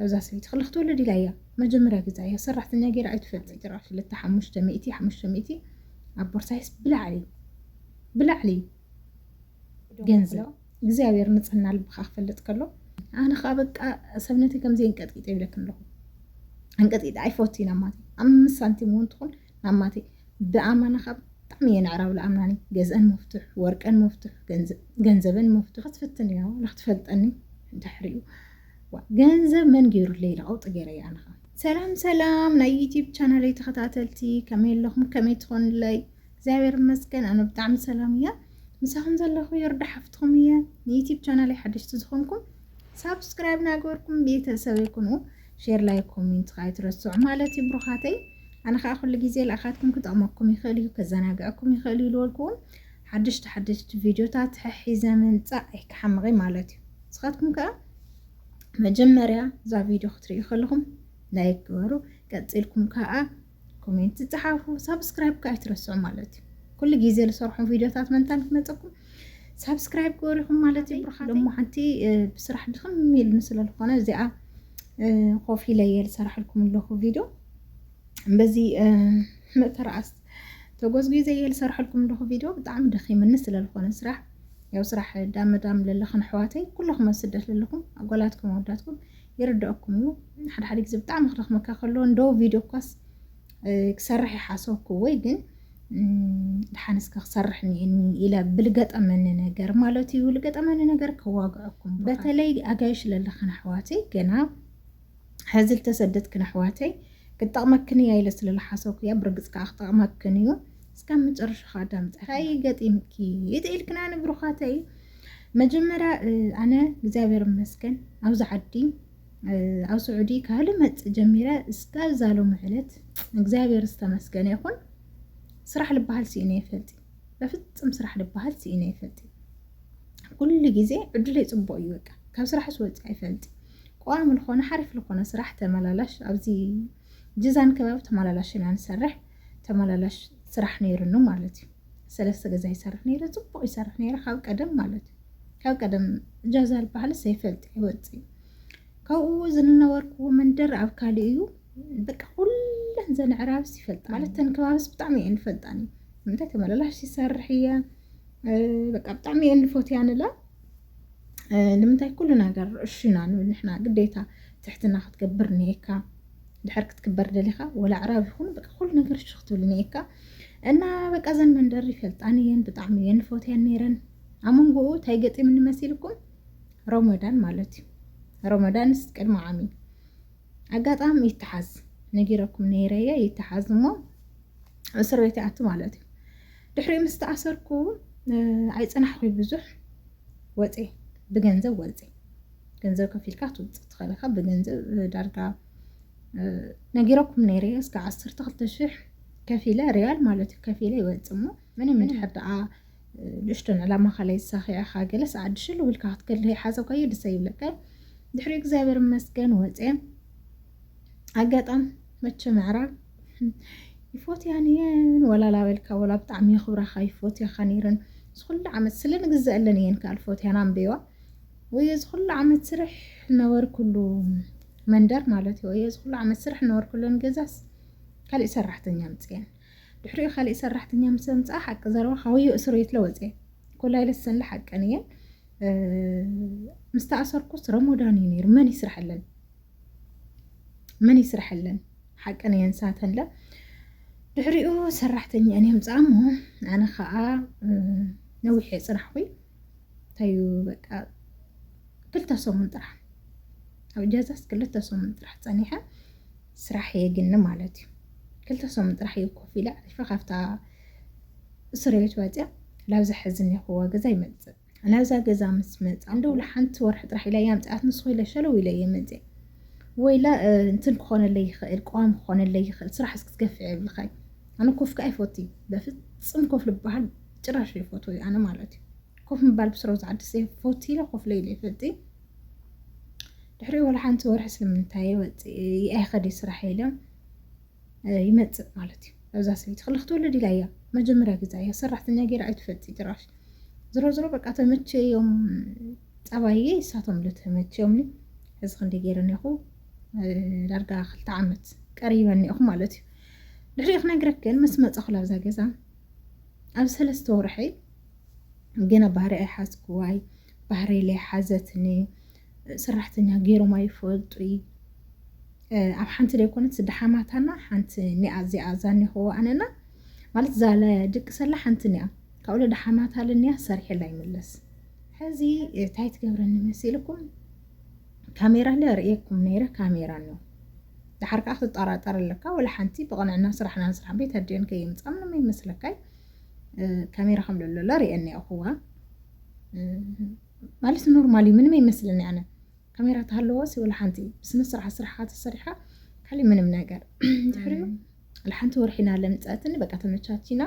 እዛ ሰበይቲ ክልክ ትወልድ ኢላ እያ መጀመርያ ግዛ እያ ሰራሕተኛ ገይራ ኣይትፈልጥን ትራ ክልተ ሓሙሽተ ሚእቲ ሓሙሽተ ሚእቲ ኣብ ቦርሳይስ ብላዕሊ ብላዕሊ ገንዘብ እግዚኣብሔር ንጽህና ልብካ ክፈልጥ ከሎ ኣነ ከዓ በቃ ሰብነተይ ከምዘይ እንቀጥቂጠ ይብለክን ኣለኹ እንቀጥቂጠ ኣይፈትይ ናብ ማተይ ኣብ ምስ ሳንቲም እውን ትኹን ናብ ማተይ ብኣማና ከዓ ብጣዕሚ እየ ንዕራብ ልኣምናኒ ገዝአን መፍትሕ ወርቀን መፍትሕ ገንዘበን መፍትሕ ክትፍትን እያ ንክትፈልጠኒ ድሕሪኡ ዋእ ገንዘብ መን ጌሩለይ ኢለ ቀውጢ ጌረያ ኣነ ከኣ። ሰላም ሰላም ናይ ዩቲብ ቻናለይ ተኸታተልቲ ከመይ ኣለኹም ከመይ ትኾኑለይ እግዚኣብሔር ይመስገን ኣነ ብጣዕሚ ሰላም እየ ምሳኹም ዘለኹ የርዳ ሓፍትኹም እየ ንዩቲብ ቻናለይ ሓደሽቲ ዝኾንኩም ሳብስክራይብ ናገበርኩም ቤተሰብ ይኩኑ ሼር ላይ ኮሜንት ከዓ ኣይትረስዑ ማለት እዩ ብሩኻተይ ኣነ ከዓ ኩሉ ግዜ ልኣኻትኩም ክጠቕመኩም ይኽእል እዩ ከዘናግዐኩም ይኽእል እዩ ዝበልኩ ሓደሽቲ ሓደሽቲ ቪድዮታት ሐሒዘ ምምጻእ ኣይክሓምቕይ ማለት እዩ ንስኻትኩም ከኣ መጀመርያ እዛ ቪድዮ ክትርእዩ ከለኹም ላይክ ግበሩ ቀጺልኩም ከኣ ኮሜንት ጸሓፉ ሳብስክራይብ ከኣ ኣይትረስዑ ማለት እዩ ኩሉ ግዜ ዝሰርሖም ቪድዮታት መንታን ክመፀኩም ሳብስክራይብ ገበሪኹም ማለት እዩ ብርካ ደሞ ሓንቲ ብስራሕ ድኽም ኢልኒ ስለ ዝኾነ እዚኣ ኮፍ ኢለ እየ ዝሰርሐልኩም ኣለኹ ቪድዮ በዚ መተርኣስ ተጎዝጊዘ እየ ዝሰርሐልኩም ኣለኹ ቪድዮ ብጣዕሚ ደኺምኒ ስለዝኾነ ስራሕ ያው ስራሕ ዳም ዳም ለለኽን ኣሕዋተይ ኩለኹም ኣብ ስደት ለለኹም ኣጓላትኩም ኣወዳትኩም ይርዳእኩም እዩ ሓደ ሓደ ግዜ ብጣዕሚ ክደኽመካ ከሎ እንዶ ቪድዮ እኳስ ክሰርሕ ይሓሰብኩ ወይ ግን ድሓን እስከ ክሰርሕ እኒአኒ ኢለ ብልገጠመኒ ነገር ማለት እዩ ልገጠመኒ ነገር ከዋግዐኩም በተለይ ኣጋይሽ ለለኽን ኣሕዋተይ ገና ሐዚ ልተሰደትክን ኣሕዋተይ ክትጠቅመክን እያ ኢለ ስለ ልሓሰብኩ እያ ብርግፅ ከዓ ክጠቅመክን እዩ እስካብ መጨረሻ ከዓ ኣዳምፀ እንታይ ገጢምኪ ይጥኢልክና ንብሩኻተይ መጀመርያ ኣነ እግዚኣብሔር መስገን ኣብዚ ዓዲ ኣብ ስዑዲ ካብ ልመፅእ ጀሚረ እስካብ ዛሎም ዕለት እግዚኣብሔር ዝተመስገነ ይኹን ስራሕ ልበሃል ስኢነ ይፈልጥ በፍፅም ስራሕ ልበሃል ስኢነ ይፈልጥ ኩሉ ግዜ ዕድለይ ፅቡቅ እዩ በቃ ካብ ስራሕ ስወፅ ኣይፈልጥ ቋሚ ልኾነ ሓሪፍ ልኾነ ስራሕ ተመላላሽ ኣብዚ ጅዛን ከባቢ ተመላላሽ ኢና ንሰርሕ ተመላላሽ ስራሕ ነይሩኑ ማለት እዩ ሰለስተ ገዛ ይሰርሕ ነይረ ፅቡቅ ይሰርሕ ነይረ ካብ ቀደም ማለት እዩ ካብ ቀደም ጃዛ ዝበሃል ዘይፈልጥ ይወፅእ ካብኡ ዝነበርኩዎ መንደር ኣብ ካልእ እዩ በቃ ኩለን ዘን ዕራብስ ይፈልጣ ማለት ተን ከባብስ ብጣዕሚ እየን ይፈልጣኒ ምንታይ ተመላላሽ ይሰርሕ እየ በቃ ብጣዕሚ እየን ንፎትያንላ ንምንታይ ኩሉ ነገር እሹ ኢና ንብል ንሕና ግዴታ ትሕትና ክትገብር እኒኤካ ድሕር ክትክበር ደሊኻ ወላ ኣዕራብ ይኹን በቃ ኩሉ ነገር እሹ ክትብል እኒኤካ እና በቃ ዘን መንደር ይፈልጣን እየን ብጣዕሚ እየን ፎትያን ነይረን ኣብ መንጎኡ እንታይ ገጢም እንመሲልኩም ሮመዳን ማለት እዩ ሮመዳን ስ ቅድሚ ዓሚ ኣጋጣሚ ይተሓዝ ነጊረኩም ነይረየ ይተሓዝ እሞ እስር ቤት ይኣቲ ማለት እዩ ድሕሪኡ ምስ ተኣሰርኩ ኣይፅናሕኩ ብዙሕ ወፀ ብገንዘብ ወፀ ገንዘብ ከፊልካ ትውፅእ ትኽእል ኢኻ ብገንዘብ ዳርጋ ነጊረኩም ነይረ እስከ ዓሰርተ ክልተ ሽሕ ከፊለ ሪያል ማለት እዩ ከፊለ ይወፅ እሞ ምንም እንድሕር ደኣ ንእሽቶን ዕላማ ካላይ ዝሳኺዕኻ ገለስ ዓድሽሉ ውልካ ክትገድለ ይሓሰብካዮ ደሰ ይብለካ ድሕሪ እግዚኣብሔር ይመስገን ወፀ ኣጋጣም መቸም ኣዕራብ ይፎትያን እየን ወላ ላበልካ ወላ ብጣዕሚ የኽብራኻ ይፎትያኻ ነይረን ዝኩሉ ዓመት ስለ ንግዘአለን እየን ካል ፎትያን ኣንበይዋ ወይ ዝኩሉ ዓመት ስርሕ ነበርኩሉ መንደር ማለት እዩ ወይ ዝኩሉ ዓመት ስርሕ ነበርኩለን ገዛስ ካልእ ሰራሕተኛ ምፅየን ድሕሪኡ ካልእ ሰራሕተኛ ምስ ኣምፅኣ ሓቂ ዘረባ ካውዮ እስር ቤት ለወፀ ኮላይ ለሰን ሓቀን እየን ምስ ተኣሰርኩስ ረሞዳን እዩ ነይሩ መን ይስርሐለን መን ይስርሐለን ሓቀን እየን ሳተለ ድሕሪኡ ሰራሕተኛን እዮም ፃሞ ኣነ ከዓ ነዊሕ ፅናሕኹ እንታዩ በቃ ክልተ ሰሙን ጥራሕ ኣብ ጀዛስ ክልተ ሰሙን ጥራሕ ፀኒሐ ስራሕ የግኒ ማለት እዩ ክልተ ሰሙን ጥራሕ እዩ ኮፍ ኢለ ዓሪፈ ካብታ እስር ቤት ወፅያ ላብዚ ሕዚ እኒኹዎ ገዛ ይመፅእ ናብዛ ገዛ ምስ መፃ እንደ ውላ ሓንቲ ወርሒ ጥራሕ ኢላ ያምፅኣት ንስኹ ኢለ ሸለው ኢለ እየ መፅእ ወይላ እንትን ክኾነለይ ይኽእል ቀዋሚ ክኾነለይ ይኽእል ስራሕ እስክትገፍዕ የብልኻይ ኣነ ኮፍ ከዓ ይፈቱ እዩ በፍፅም ኮፍ ልበሃል ጭራሽ ይፈቱ እዩ ኣነ ማለት እዩ ኮፍ ምባል ብስሮ ዝዓድስ ፈቱ ኢለ ኮፍ ለይለ ይፈልጥ እዩ ድሕሪ ወላ ሓንቲ ወርሒ ስለምንታይ ወፅ ኣይኸደ ስራሕ ኢለ ይመፅእ ማለት እዩ እዛ ሰበይቲ ክላ ክትወለድ ኢላ እያ መጀመርያ ግዛ እያ ሰራሕተኛ ገይራ ኣይትፈልጥ ጭራሽ ዝሮ ዝሮ በቃ ተመቸዮም ፀባየ ይሳቶም ልተመቸዮም እዚ ክንደ ገይረ ኒኹ ዳርጋ ክልተ ዓመት ቀሪበ ኒኹ ማለት እዩ ድሕሪኡ ክነግረክ ግን ምስ መፀኹ ላብዛ ገዛ ኣብ ሰለስተ ወርሐይ ገና ባህሪ ኣይሓዝኩዋይ ባህሪ ለይ ሓዘትኒ ስራሕተኛ ገይሮም ኣይፈልጡይ ኣብ ሓንቲ ዘይኮነት ስዲ ሓማታና ሓንቲ ኒኣ እዚኣ ዛኒኸዎ ኣነና ማለት ዛለ ድቂ ሰላ ሓንቲ ኒኣ ካብኡ ለደ ሓማታ ልኒያ ሰሪሕላ ይምለስ ሕዚ እንታይ ትገብረኒ መሲልኩም ካሜራ ለ ርእየኩም ነይረ ካሜራ ኒዮ ድሓር ከዓ ክትጠራጠር ኣለካ ወላ ሓንቲ ብቕንዕና ስራሕና ንስራሕ ቤት ኣዲኦን ከየምፃ ምንም ይመስለካይ ካሜራ ከም ለሎለ ርእየኒ ኣኹዋ ማለት ኖርማል እዩ ምንም ኣይመስልን ኣነ ካሜራ ተሃለወሲ ወላ ሓንቲ ብስነ ስርዓት ስራሕካ ተሰሪሓ ካሊእ ምንም ነገር ድሕሪኡ ሓንቲ ወርሒ ኢና ለምፀትኒ በቃ ተመቻቺና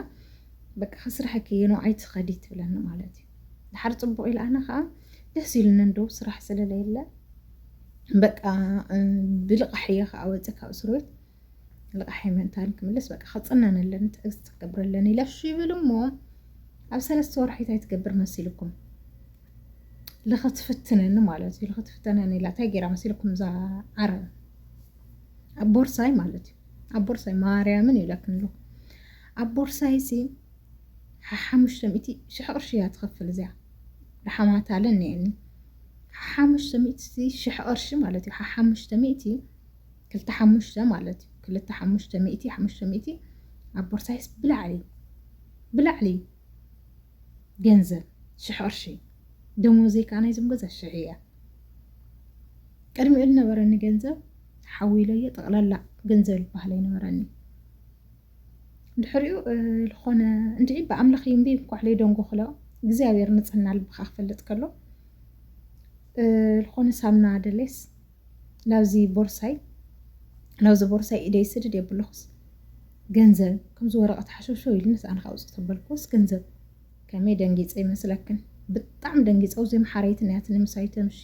በቃ ከስራሕ ከየኖ ኣይትኸዲ ትብለኒ ማለት እዩ ድሓር ፅቡቅ ኢለ ኣነ ከዓ ደስ ኢሉኒ እንደው ስራሕ ስለለየለ በቃ ብልቃሕ እየ ከዓ ወፀ ካብ እስር ቤት ልቓሕ የመንታ ንክምልስ በቃ ክፅነነለን ትዕግስቲ ክገብረለን ኢለ እሺ ይብል እሞ ኣብ ሰለስተ ወርሒ እንታይ ትገብር መሲልኩም ልኽትፍትነኒ ማለት እዩ ልኽትፍተነኒ ኢላ እንታይ ገይራ መሲልኩም እዛ ዓረብ ኣብ ቦርሳይ ማለት እዩ ኣብ ቦርሳይ ማርያምን ይብለክን ኣለኹ ኣብ ቦርሳይ ሲ ሓሓሙሽተ ሚእቲ ሽሕ ቅርሺ እያ ትኸፍል እዚያ ርሓማት ኣለ እኒአኒ ሓሓሙሽተ ሚእቲ ሽሕ ቅርሺ ማለት እዩ ሓሓሙሽተ ሚእቲ ክልተ ሓሙሽተ ማለት እዩ ክልተ ሓሙሽተ ሚእቲ ሓሙሽተ ሚእቲ ኣብ ቦርሳይስ ብላዕሊ ብላዕሊ ገንዘብ ሽሕ ቅርሺ ደሞዘይ ከዓ ናይዞም ገዛ ሽሕ እያ ቅድሚኡ ዝነበረኒ ገንዘብ ሓዊለዮ ጠቕላላ ገንዘብ ዝበሃል ኣይነበረኒ ድሕሪኡ ዝኾነ እንድዒ ብኣምላኽ እዩ እምቢ እንኳዕ ደንጎ ክሎ እግዚኣብሔር ንፅህና ልብኻ ክፈልጥ ከሎ ዝኾነ ሳምና ደሌስ ናብዚ ቦርሳይ ናብዚ ቦርሳይ ኢደይ ስድድ የብልኩስ ገንዘብ ከምዚ ወረቐት ሓሸውሸው ኢልንስ ኣነ ካውፅእ ተበልኩስ ገንዘብ ከመይ ደንጊፀ ይመስለክን ብጣዕሚ ደንጊፀ ውዘይ መሓረይቲ ናያትኒ ምሳይ ተምሺ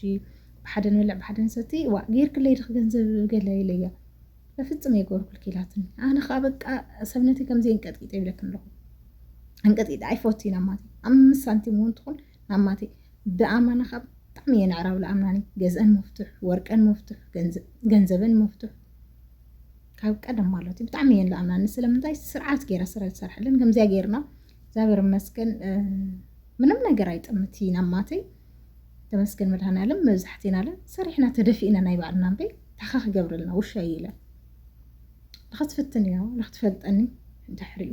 ብሓደ ንበልዕ ብሓደ ንሰቲ ዋ ጌርክለይ ድኽ ገንዘብ ገለ ኢለያ በፍፅም የገበርኩልኪ ኢላትኒ ኣነ ከዓ በቃ ሰብነተይ ከምዘይ እንቀጥቂጠ ይብለክን ኣለኹ እንቀጥቂጠ ኣይፈቱ ኢና ማት ኣምስት ሳንቲም እውን ትኹን ኣማተይ ብኣማና ከኣ ብጣዕሚ እየ ነዕራብ ልኣምናኒ ገዝኣን መፍቱሕ ወርቀን መፍቱሕ ገንዘበን መፍቱሕ ካብ ቀደም ማለት እዩ ብጣዕሚ እየን ልኣምናኒ ስለምንታይ ስርዓት ገይራ ስለ ዝሰርሐለን ከምዚያ ገይርና እግዚኣብሔር ይመስገን ምንም ነገር ኣይጥምትይን ኣማተይ ተመስገን መድሃናለም መብዛሕቴና ለ ሰሪሕና ተደፊእና ናይ ባዕልና እምበይ ታኻ ክገብረልና ውሻ ኢለ ንኸትፍትን እያ ንክትፈልጠኒ ድሕሪኡ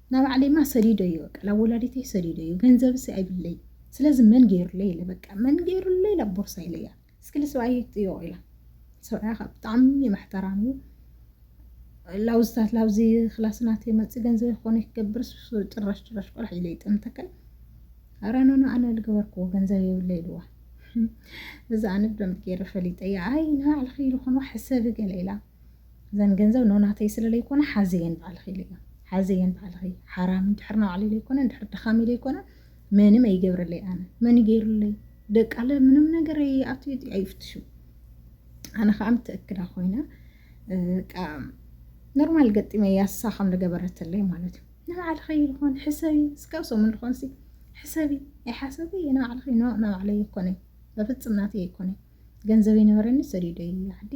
ናብ ባዕለይማ ሰዲደዮ በቃ ናብ ወላዲተይ ሰዲደዮ ገንዘብሲ ኣይብለይ ስለዚ መን ገይሩለይ ኢለ በቃ መን ገይሩለይ ናብ ቦርሳ ኢለያ እስኪ ልስብኣይ ይጥዮ ኢላ ሰብኣያ ካብ ብጣዕሚ መሕተራም እዩ ላውዝታት ላውዚ ክላስ ናተይ መፅ ገንዘብ ይኮነ ክገብር ጭራሽ ጭራሽ ቆልሕ ኢለ ይጠምተከል ኣረኖኖ ኣነ ልገበርክዎ ገንዘብ የብለ ኢልዋ እዛ ኣነ ብደምብ ገይረ ፈሊጠ እያ ኣይ ንባዕልኺ ኢሉ ኮንዋ ሕሰቢ ገለ ኢላ እዘን ገንዘብ ን ናተይ ስለ ለይኮና ሓዘየን ባዕልኺ ኢለዮ ሓዘየን ባዕልኺ ሓራም እንድሕር ናባዕለይ ለይኮነ እንድሕር ድኻመይ ለይኮነ መንም ኣይገብረለይ ኣነ መን እዩ ገይሩለይ ደቃለ ምንም ነገር ኣብቲ ኣይፍትሹ ኣነ ከዓ ምትእክዳ ኮይነ ኖርማል ገጢመ ያሳ ከም ዝገበረትለይ ማለት እዩ ንባዕልኸ ይልኾን ሕሰቢ እስካብ ሰሙን ልኾንሲ ሕሰቢ ኣይሓሰቢ ንባዕልኸ ንባዕለይ ይኮነ በፍፅም ናተይ ኣይኮነይ ገንዘበይ ነበረኒ ሰዲደዮ እየ ዓዲ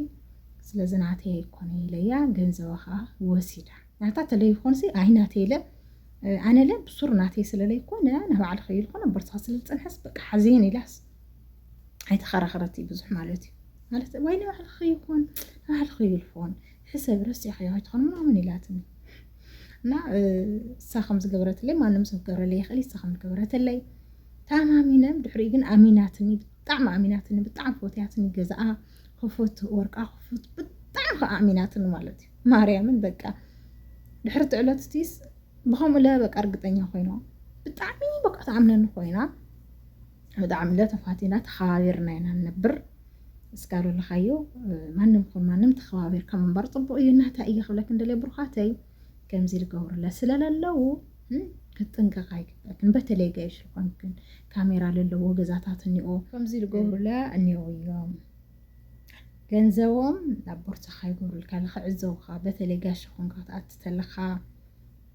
ስለዚ ናተይ ኣይኮነይ ኢለያ ገንዘባ ከዓ ወሲዳ ናታ ተለይኮንሲ ኣይ ናተይ ኢለ ኣነ ለ ብሱር ናተይ ስለለይኮነ ንባዕሊ ከይልኮነ ኣበርትኻ ስለዝፀንሐስ በቃ ሓዘየን ኢላስ ኣይተኸራኸረት ብዙሕ ማለት እዩ ማለት ወይ ንባዕልኺ ይኹን ንባዕልኺ ይልፎን ሕሰብ ረሲዕካዮ ከይትኾን ምናምን ኢላትኒ እና እሳ ከም ዝገበረትለይ ማንም ሰብ ክገብረለይ ይኽእል እሳ ከም ዝገበረትለይ ተኣማሚነ ድሕሪ ግን ኣሚናትኒ ብጣዕሚ ኣሚናትኒ ብጣዕሚ ፎትያትኒ ገዛኣ ክፉት ወርቃ ክፉት ብጣዕሚ ከዓ ኣሚናትኒ ማለት እዩ ማርያምን በቃ ድሕሪ ትዕለት ስቲስ ብከምኡ ለ በቃ እርግጠኛ ኮይኖ ብጣዕሚ በቃ ተኣምነኒ ኮይና ብጣዕሚለ ተፋቲና ተኸባቢርና ኢና ንነብር እስካ ለለኻዮ ማንም ኹን ማንም ተኸባቢርካ ምንባር ፅቡቅ እዩ እናታይ እየ ክብለክን ደልየ ብሩኻተይ ከምዚ ዝገብሩለ ስለለለው ክትጥንቀቃ ይግበክን በተለይ ገይሽ ዝኾንክን ካሜራ ለለዎ ገዛታት እኒኦ ከምዚ ዝገብሩለ እኒኦ እዮም ገንዘቦም ናብ ቦርሳኻ ይገብሩልካ ንክዕዘቡኻ በተለይ ጋሽ ኾንካ ትኣቲ ተለኻ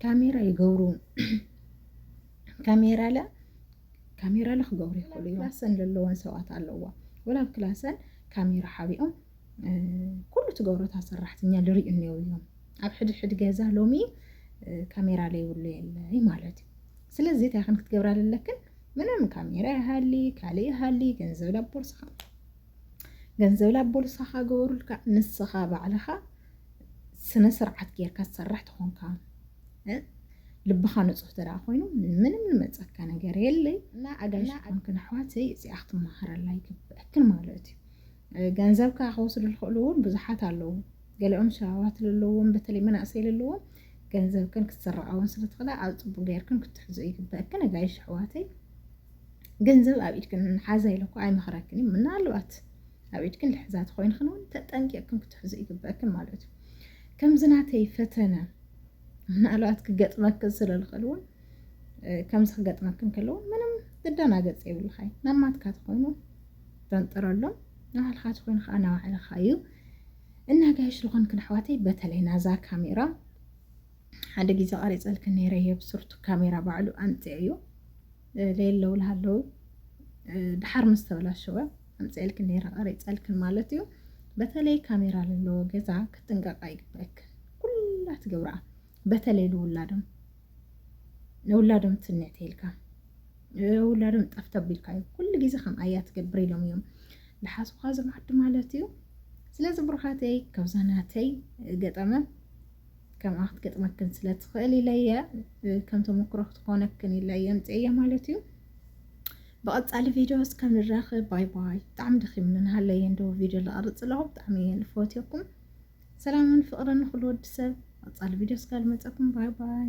ካሜራ ይገብሩ ካሜራለ ካሜራለ ክገብሩ ይኽእሉ እዮም ክላሰን ዘለወን ሰባት ኣለዋ ወላ ኣብ ክላሰን ካሜራ ሓቢኦም ኩሉ ትገብሮታ ሰራሕተኛ ልርእዩ እኒው እዮም ኣብ ሕድሕድ ገዛ ሎሚ ካሜራ ለይብሉ የለይ ማለት እዩ ስለዚ እንታይ ከም ክትገብራ ዘለክን ምንም ካሜራ ይሃሊ ካልእ ይሃሊ ገንዘብ ላብ ቦርሳኻ ገንዘብ ላብ ቦርሳኻ ገበሩልካ ንስኻ ባዕልኻ ስነ ስርዓት ጌርካ ትሰርሕ ትኾንካ ልብኻ ንጹህ ተደኣ ኮይኑ ምንም ንመጸካ ነገር የለይ እና ኣጋይሽ ኮንክን ኣሕዋተይ እዚኣ ክትመሃረላ ይግብአክን ማለት እዩ ገንዘብካ ክወስዱ ዝኽእሉ እውን ብዙሓት ኣለዉ ገሊኦም ሸባባት ዘለዎም በተለይ መናእሰይ ዘለዎም ገንዘብክን ክትስረቃውን ስለትኽእላ ኣብ ፅቡቅ ገይርክን ክትሕዙ ይግበአክን ኣጋይሽ ኣሕዋተይ ገንዘብ ኣብ ኢድክን ሓዛ ኢለኩ ኣይመኽረክን እዩ ምናልባት ኣብ ኢድክን ልሕዛ ተኾይንክን እውን ተጠንቂቕክን ክትሕዙ ይግበእክን ማለት እዩ ከምዚ ናተይ ፈተነ ምናልባት ክገጥመክን ስለዝኽእል እውን ከምዚ ክገጥመክን ከለውን ምንም ትደናገፅ የብልኻይ ናብ ማትካ ተኾይኑ ተንጥረሎም ንባዕልኻ ተኾይኑ ከዓ ናባዕልኻ እዩ እና ጋይሽ ዝኾንክን ኣሕዋተይ በተለይ ናዛ ካሜራ ሓደ ግዜ ቀሪጸልኪ ነይረ እየ ብስርቱ ካሜራ ባዕሉ ኣምጺዐዮ ለየለውል ሃለው ድሓር ምስ ተበላሸወ ኣምጺዐልኪ ነይረ ቀሪጸልክን ማለት እዩ በተለይ ካሜራ ዘለዎ ገዛ ክትጥንቀቃ ይግበረክን ኩላ ትገብራ በተለይ ንውላዶም ንውላዶም ትንዕ ተይልካ ውላዶም ጠፍተብ ኢልካ እዩ ኩሉ ግዜ ከም ኣያ ትገብር ኢሎም እዮም ዝሓስብካ ዝማዕዱ ማለት እዩ ስለዚ ብሩኻተይ ካብዛ ናተይ ገጠመ ከምኣ ክትገጥመክን ስለ ትኽእል ኢለ እየ ከም ተሞክሮ ክትኾነክን ኢለ እየ ምፅእየ ማለት እዩ ብቐፃሊ ቪድዮ እስከምንራኽብ ባይ ባይ ብጣዕሚ ደኺምኒ ንሃለየ እንዶ ቪድዮ ዝቐርፅ ኣለኹ ብጣዕሚ እየ ልፈትየኩም ሰላምን ፍቕርን ንኹሉ ወዲ ሰብ ቐፃሊ ቪድዮ እስካልመፀኩም ባይ ባይ